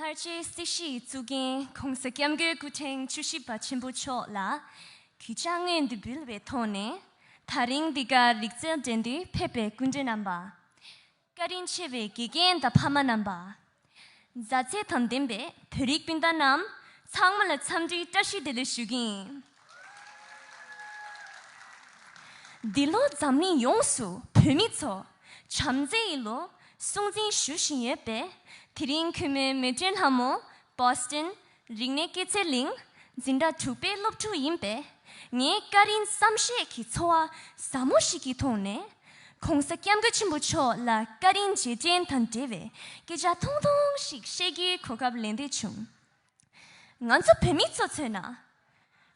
ལྷར་བཅས་སྲིད་ཞིའི་གཙུག་རྒྱན་གོང་ས་སྐྱབས་མགོན་སྐུ་ཕྲེང་བཅུ་བཞི་པ་ཆེན་པོ་མཆོག་ལ་གུས་ཕྱག་དངོས་འདི་འབུལ་བའི་ཐོག་ནས་ད་རིང་འདི་གར་རིག་རྩལ་འགྲན་བསྡུར་ཕེབས་པའི་སྐུ་མགྲོན་རྣམ་པ། བཀའ་དྲིན་ཆེ་བའི་དགེ་རྒན་དང་ཕ་མ་རྣམ་པ། མཛའ་བརྩེ་དང་ལྡན་པའི་བོད་རིགས་སྤུན་ཟླ་རྣམས་ཚང་མ་ལ་འཚམས་འདྲིའི་བཀྲ་ཤིས་བདེ་ལེགས་ཞུ་གིན། འདི་ལོ་འཛམ་གླིང་ཡོངས་སུ་བོད་མི་ཚོ་བྱམས་བརྩེ་ཡི་ལོ་སྲུང་འཛིན་ཞུ་བཞིན་ཡོད་པས་དེ་རིང་གུས་མོའི་མོས་མཐུན་ལྷ་མོ Boston རིག་གནས་སྐྱེད་ཚལ་གླིང་འཛིན་གྲྭ་དྲུག་པའི་སློབ་ཕྲུག་ཡིན་པས་ངའི་སྐ་རིན་བསམ་ཤེས་ཀྱི་འཚོ་བ་ཟབ་མོ་ཞིག་གི་མཐོང་ནས ྋགོང་ས ྋསྐྱབས་མགོན་ཆེན་པོ་མཆོག་ལ་སྐ་རིན་རྗེས་དྲན་དང་འབྲེལ་བའི་སྐད་ཆ་ཐུང་ཐུང་ཞིག་བཤད་རྒྱུའི་གོ་སྐབས་ལེན་བདེ་བྱུང། ང་ཚོ་བོད་མི་ཚོ་མཚོན་ན།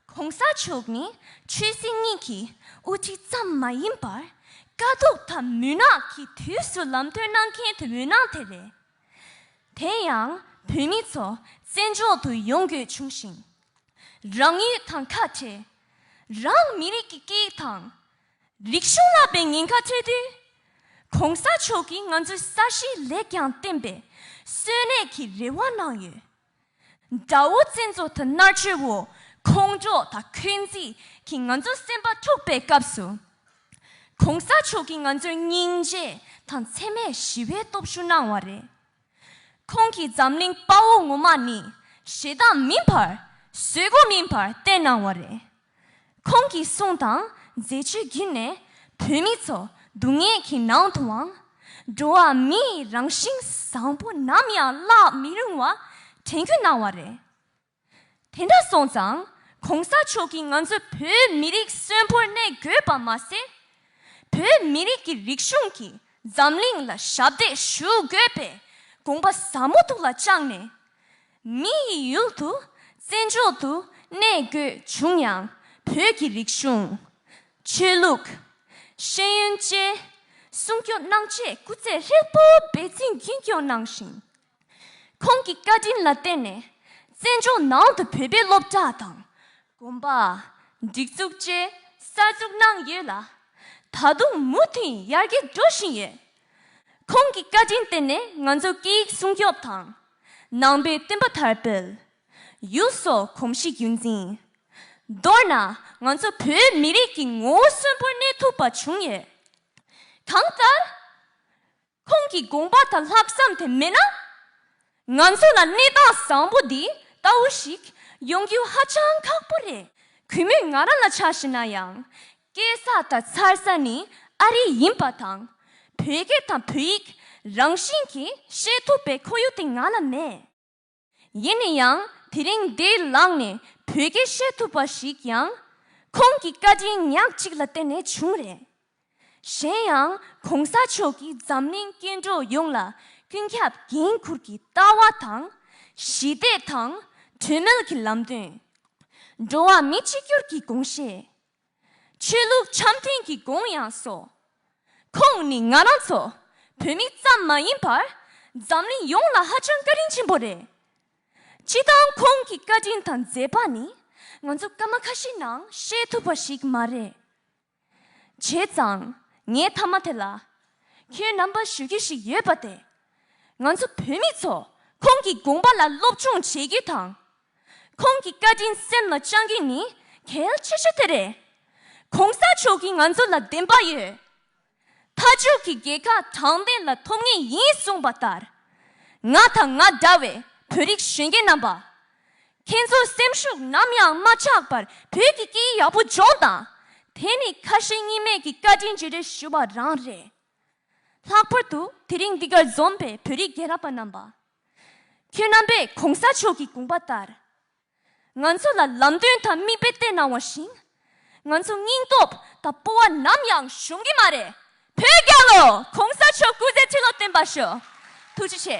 གོང་ས་མཆོག་ནི་ཆོས་སྲིད་གཉིས་ཀྱི་དབུ་ཁྲིད་ཙམ་མ་ཡིན་པར་དཀའ་སྡུག་དང་མུན་ནག་གི་དུས་སུ་ལམ་སྟོན་གནང་མཁན་དུ་མུན་ནག་དེ་རེད། དེ་ཡང་བོད་མི་ཚོ་བཙན་འཕྲོག་ཏུ་ཡོང་དགོས་བྱུང་ཞིང། རང་ཡུལ་དང་ཁ་བྲལ། རང་མི་རིགས་ཀྱི་སྐད་ཡིག་དང། རིག་གཞུང་བསླབ་པའི་ཉེན་ཁ་འཕྲད་དུས། གོང་ས་མཆོག་གིས་ང་ཚོའི་ས་གཞི་ལེགས་ཀྱང་བརྟན་པའི་གསོན་གནས་ཀྱི་རེ་བ་གནང་ཡོད། དགྲ་བོ་བཙན་བཟོ་དང་མནར་གཅོད་འོག་ཁོང་ཁྲོ་དང་འཁོན་འཛིན་གྱིས་ང་ཚོ་སེམས་པ་འཁྲུགས་པའི་སྐབས་སུ། གོང་ས་མཆོག་གིས་ང་ཚོར་སྙིང་རྗེ་དང་འཚེ་མེད་ཞི་བའི་སྟོབས་ཤུགས་གནང་བ་རེད། ཁོང་གིས་འཛམ་གླིང་དཔའ་བོ་ངོ་མ་ནི་ཞེ་སྡང་མིན་པར་བཟོད་སྒོ་མིན་པར་བསྟེན་གནང་བ་རེད། ཁོང་གི་གསུང་དང་མཛད་བྱུས་བརྒྱུད་ནས་བོད་མི་ཚོ་སྡུག་བསྔལ་གྱི་ནང་དུའང་འགྲོ་བ་མིའི་རང་བཞིན་བཟང་པོ་ནམ་ཡང་བརླག་མི་རུང་བ་དྲན་བརྒྱུད་གནང་བ་རེད། དེ་འདྲ་སོང་ཙང་གོང་ས་མཆོག་གིས་ང་ཚོ་བོད་མི་རིགས་གསོན་པོར་གནས་དགོས་པ་མ་ཟད། བོད་མི་རིགས་ཀྱི་རིག་གཞུང་གིས་འཛམ་གླིང་ལ་ཞབས་འདེགས་ཞུ་དགོས་པའི་དགོངས་པ་ཟབ་མོ་ཐུགས་ལ་བཅངས་ནས། མི་ཡི་ཡུལ་དུ་བཙན་འཕྱོག་ཏུ་གནས་དགོས་བྱུང་ཡང་བོད་ཀྱི་རིག་གཞུང། ཆོས་ལུགས། ཤེས་ཡོན་བཅས་སྲུང་སྐྱོབ་གནང་ཆེད་སྐུ་ཚེ་ཧྲིལ་པོ་འབད་བརྩོན་རྒྱུན་སྐྱོང་གནང་ཞིང། ཁོང་གི་བཀའ་དྲིན་ལ་བརྟེན་ནས་བཙན་བྱོལ་ནང་དུ་བོད་པའི་སློབ་གྲྭ་དང། དགོན་པ། སྒྲིག་འཛུགས་བཅས་གསར་འཛུགས་གནང་ཡོད་ལ། ད་དུང་མུ་མཐུད་ཡར་རྒྱས་འགྲོ་བཞིན་ཡོད། ཁོང་གི་བཀའ་དྲིན་བརྟེན་ནས་ང་ཚོ་སྐད་ཡིག་སྲུང་སྐྱོབ་དང། ནང་པའི་བསྟན་པ་དར་སྤེལ། ཡུལ་སོགས་གོམས་གཤིས་རྒྱུན་འཛིན། མདོར་ན་ང་ཚོ་བོད་མི་རིགས་ཀྱི་ངོ་བོ་གསོན་པོར་གནས་ཐུབ་པ་བྱུང་ཡོད། གང་ལྟར། ཁོང་གི་དགོངས་པ་དང་ལྷག་བསམ་དེ་མེད་ན། ང་ཚོ་ལ་གནས་སྟངས་བཟང་པོ་འདི་ལྟ་བུ་ཞིག་ཡོང་རྒྱུ་ཧ་ཅང་ཁག་པོ་རེད། གུས་མོས་ང་རང་ལ་ཆ་བཞི་ན་ཡང་སྐྱེ་ས་དང་འཚར་ས་ནི་ཨ་རི་ཡིན་པ་དང། བོད་སྐད་དང་བོད་ཡིག་རང་བཞིན་གྱིས་བཤད་ཐུབ་པའི་ཁོར་ཡུག་དེ་ང་ལ་མེད། ཡིན་ན་ཡང་དེ་རིང་འདི་ལངས་ནས་བོད་སྐད་བཤད་ཐུབ་པ་ཞིག་ཡང་ཁོང་གི་བཀའ་དྲིན་ཉག་གཅིག་ལ་བརྟེན་ནས་བྱུང་རེད། གཞན་ཡང་གོང་ས་མཆོག་གིས་འཛམ་གླིང་སྐྱེ་འགྲོ་ཡོངས་ལ་ཀུན་ཁྱབ་འགན་འཁུར་གྱི་ལྟ་བ་དང། ཞི་བདེ་དང་གྲོས་མོལ་གྱི་ལམ་སྟོན། འགྲོ་བ་མི་གཅིག་གྱུར་གྱི་དགོངས་བཞེས། ཆོས་ལུགས་འཆམ་མཐུན་གྱི་དགོངས་ཡངས་སོ། ཁོང་ནི་ང་རང་ཚོ་བོད་མི་ཙམ་མ་ཡིན་པར་འཛམ་གླིང་ཡོངས་ལ་ཧ་ཅང་བཀའ་དྲིན་ཆེན་པོ་རེད། སྤྱི་བཏང་ཁོང་གི་བཀའ་དྲིན་དང་མཛད་པ་ནི་ང་ཚོ་སྐར་མ་ཁ་ཤས་ནང་བཤད་ཐུབ་པ་ཞིག་མ་རེད། བྱས་ཙང་ངའི་མཐའ་མ་དེ་ལ་ཁྱོད་རྣམ་པ་ཞུ་རྒྱུ་ཞིག་ཡོད་པ་དེ། ང་ཚོ་བོད་མི་ཚོ་ཁོང་གི་དགོངས་པ་ལ་སློབ་སྦྱོང་བྱེད་རྒྱུ་དང། ཁོང་གི་བཀའ་དྲིན་སེམས་ལ་བཅངས་རྒྱུ་ནི་གལ་ཆེ་ཤོས་དེ་རེད། གོང་ས་མཆོག་གིས་ང་ཚོ་ལ་བདེན་པ་ཡོད། མཐའ་མཇུག་གི་རྒྱལ་ཁ་དྲང་བདེན་ལ་ཐོབ་ངེས་ཡིན་གསུངས་པ་ལྟར། ང་དང་ང་འདྲ་བའི་བོད་རིགས་གཞོན་སྐྱེས་རྣམ་པ། ཁྱེད་ཚོའི་སེམས་ཤུགས་ནམ་ཡང་མ་ཆག་པར་བོད་ཀྱི་སྐད་ཡིག་ཡག་པོ་སྦྱོང་དང། དེ་ནི་ཁ་ཞེ་གཉིས་མེད་ཀྱི་བཀའ་དྲིན་བརྗེ་རེས་ཞུ་བ་རང་རེད། ལྷག་པར་དུ་དེ་རིང་འདི་གར་འཛོམས་པའི་བོད་རིགས་རྒན་རབས་པ་རྣམ་པ། ཁྱོད་རྣམ་པས་གོང་ས་མཆོག་གི་དགོངས་པ་ལྟར། ང་ཚོ་ལ་ལམ་སྟོན་དང་མིག་དཔེ་བསྟན་གནང་བ་བཞིན། ང་ཚོ་སྙིང་སྟོབས་དང་སྤོ་བ་ནམ་ཡང་ཞུམ་གི་མ་རེད། བོད་རྒྱལ་ལོ་གོང་ས་མཆོག་སྐུ་ཚེ་ཁྲི་ལོ་བརྟན་པར་ཤོག། ཐུགས་རྗེ་ཆེ།